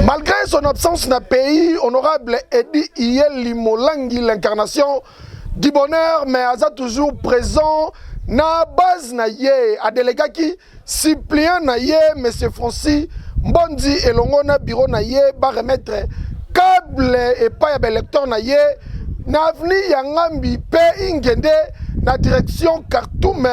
Malgré son absence na pays, honorable Eddy Iyeli Molangi, l'incarnation du bonheur, mais aza toujours présent na base na ye adelegaki suppliant na ye monsieur Francis Mbondi elongo na bureau na ye ba remettre câble epai ya ba électeurs na ye na avenue ya Ngambi pe ingende na direction Khartoum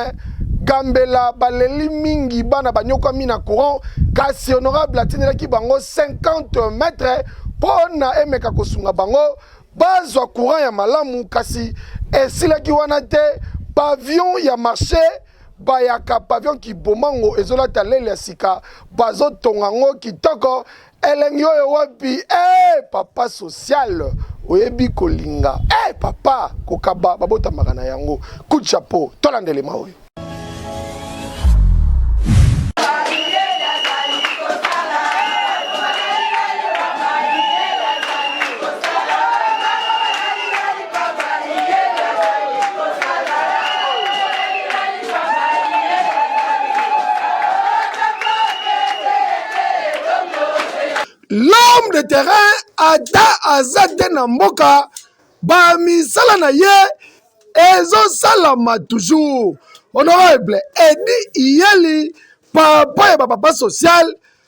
Gambela baleli mingi bana banyokwami na courant kasi honorable atindelaki bango 50 mètres mpo na emeka kosunga bango bazwa courant ya malamu kasi esilaki wana te pavillon ya marché bayaka pavillon kibomango ezolata lele ya sika bazotonga yango kitoko elengi oyo wapi eh papa social oyebi kolinga eh papa kokaba babotamaka na yango coup de chapeau tolanda elema oyo l'homme de terrain ata aza te na mboka bamisala na ye ezosalama toujours honorable edi iyeli papa ya bapapa social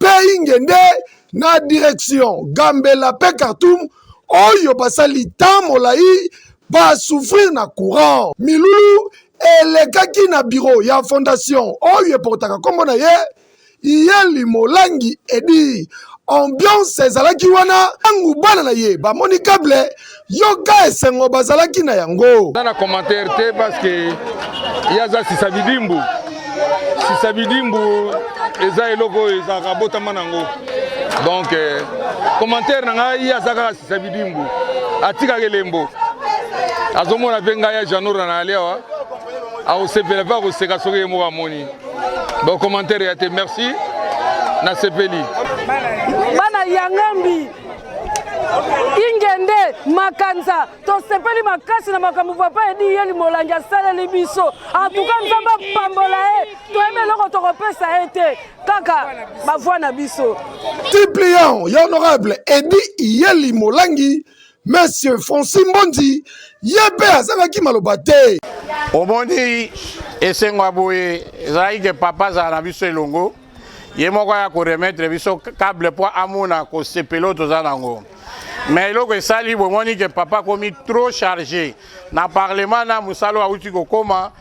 mpe ingende na direction gambela mpe khartoum oyo basali temps molai basouffrir na courant milulu elekaki na biro ya fondation oyo eportaka nkombo na ye iyeli molangi edi ambiance ezalaki wana ntango bana na ye bamoni cable yoka esengo bazalaki na yango na na commentaire te parce que ye aza sisa bidimbu sisa bidimbu eza eloko oyo ezalaka abotama nango donc eh, commentaire na ngai ye aza kaka sisa bidimbu atikaka elembo azomona mpe ngai ya janora na yali awa akosepela mpe akoseka soki ye moko amoni bacommentaire ya te merci nasepeli bana yangambi ingende makanza tosepeli makasi na makambo papa edi yeli molangi asaleli biso antuka nzambe apambola ye toyebi eloko tokopesa ye te kaka bavwa na biso tiplian ya honorable edi yeli molangi monsieur franci mbondi ye mpe azangaki maloba te omoni esengo ya boye ezalaki ke papa azala na biso elongo ye moko aya koremettre biso cable mpo amona kosepela oyo toza nango mais eloko esali bomoni ke papa akomi trop charge na parlement na mosala oyo auti kokoma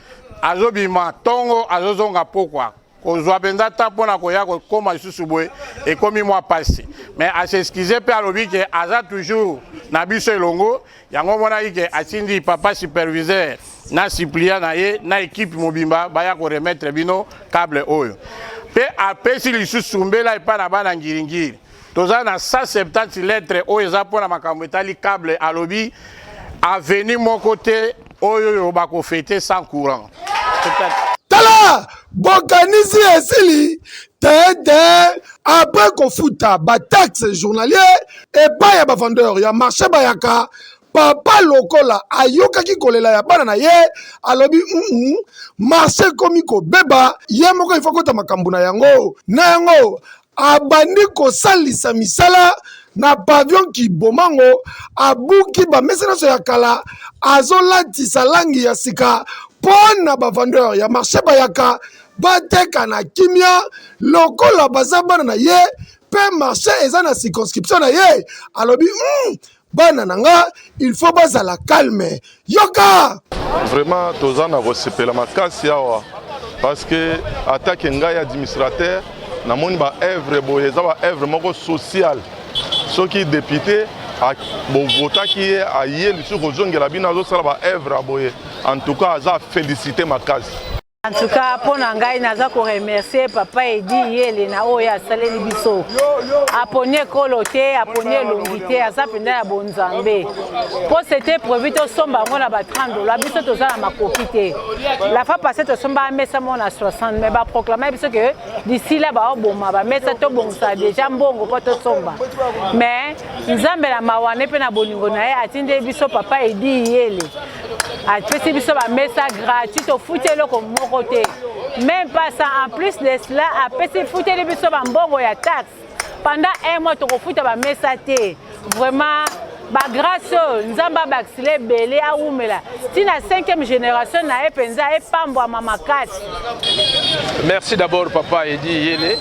azobima ntongo azozonga pokwa kozwa mpenza ntan mpo na koya kokoma lisusu boye ekomi mwa mpasi mais aseskize mpe alobi ke aza toujours na biso elongo yango omonaki ke atindi papa superviseur na supplia na ye na ekipe mobimba baya koremettre bino cable oyo mpe apesi lisusu mbela epai na bana ngiringiri toza na 170 lettre oyo eza mpo na makambo etali cable alobi aveni moko te oyo oyo bakofete sans courant tala bokanisi esili te te après kofuta bataxe journalier epai ya bavendeur ya marché bayaka papa lokola ayokaki kolela ya bana na ye alobi mm marché ekomi kobeba ye moko ifa kota makambo na yango na yango abandi kosalisa misala na pavillon kibomango abuki bamesa nyonso ya kala azolatisa langi ya sika mpo na bavendeur ya marché bayaka bateka na kimia lokola baza bana na ye mpe marché eza na circonscription na ye alobi mm, bana na nga il faut bazala calme yoka vraiment toza na kosepela makasi awa parce que atake ngai administrateur namoni baevre boye eza baevre moko sociale soki depute bovotaki ye aye lisusu kozongela bino azosala baevre ya boye en tout cas aza félicité makasi En tout cas, mpo na ngai naza ko remercier papa Edi Yele na oyo asaleli biso. Aponi ekolo te, aponi elongi te, aza mpenza ya bonzambe. Mpo c'était prévu tosomba yango na ba 30 dollars, biso toza na makoki te. La fois passée tosomba mesa moko na 60, mais ba proclama biso que d'ici là baoboma ba mesa tobongisa déjà mbongo mpo tosomba. Mais Nzambe na mawa ne mpe na bolingo na ye atindeli biso papa Edi Yele. apesi biso bamesa gratuit tofuti eloko moko te même pas ça en plus de cela apesi futeli biso bambongo ya taxe pendant un mois tokofuta bamesa te vraiment bagrâce oyo oh, nzambe abakisila ebele awumela ntina 5e génération na ye mpenza epambwama makasi merci d'abord papa edi yele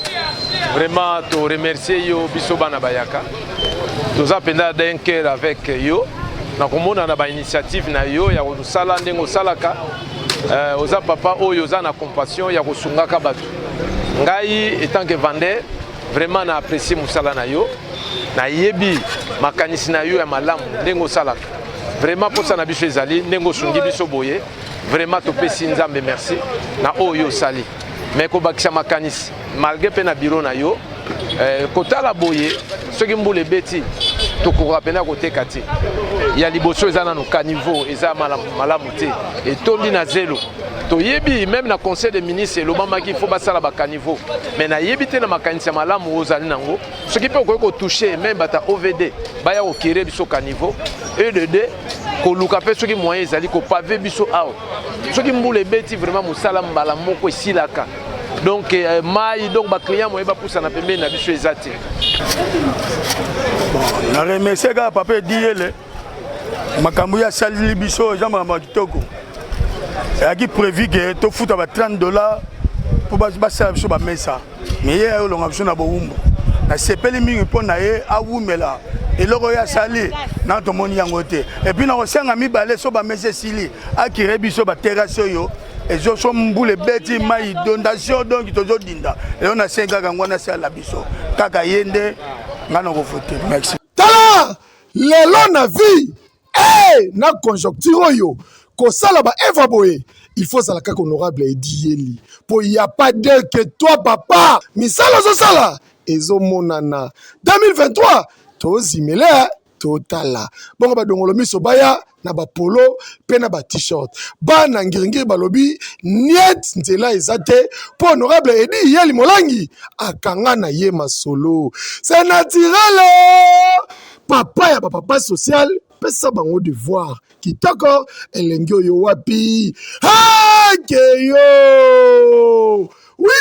vraiment toremercie yo biso bana bayaka toza mpenza d'un cœur avec yo na komona na bainitiative na yo ya kosala ndenge osalaka euh, oza papa oyo oza na compassion ya kosungaka bato ngai etant que vendeur vraiment na apprécie mosala na yo nayebi makanisi na yo ya malamu ndenge osalaka vraiment mposa na biso ezali ndenge osungi biso boye vraiment topesi nzambe merci na oyo osali me kobakisa makanisi malgre mpe na biro na yo eh, kotala boye soki mbula ebeti tokokoka mpena koteka te ya liboso eza nano caniveau eza malamu, malamu te etondi na zelo toyebi meme na conseil des ministres elobamaki faut basala bacaniveau mais nayebi te na makanisi ya malamu oyo ozali nango soki mpe okoki kotouche meme bata ovd baya kokere biso caniveau e de deux koluka mpe soki moyen ezali kopave biso awa soki mbula ebeti vraiment mosala mbala moko esilaka donc euh, mai donc baclient moye bapusana pembeni na biso eza te na remercie kaka papa ediyele makambo ye asaleli biso eza makambo ya kitoko eyaki prévu ke tofuta ba 30 dollars mpo basala biso bamesa me ye ayolonga biso na bowumbu nasepeli mingi mpo na ye awumela eloko oyo asali na tomoni yango te epuis nakosenga mibale so bamesa esili akire biso baterase oyo ezo so mbula ebeti mai dondation donc tozodinda eyo na sengi kaka yango wana sala biso kaka ye nde ngai nakovote merci tala lelo na vie hey, eh, na conjoncture oyo kosala ba eva boye il faut ozala kaka honorable edi yeli mpo ya pas de que toi papa misala ozosala ezomonana 2023 tozimele totala bongo badongolo miso baya na bapolo mpe na batishirt bana ngiringiri balobi niet nzela eza te mpo honorable edi yeli molangi akanga na ye masolo se naturele papa ya bapapa social pesa bango devoir kitoko elengi oyo wapi hakeyo wi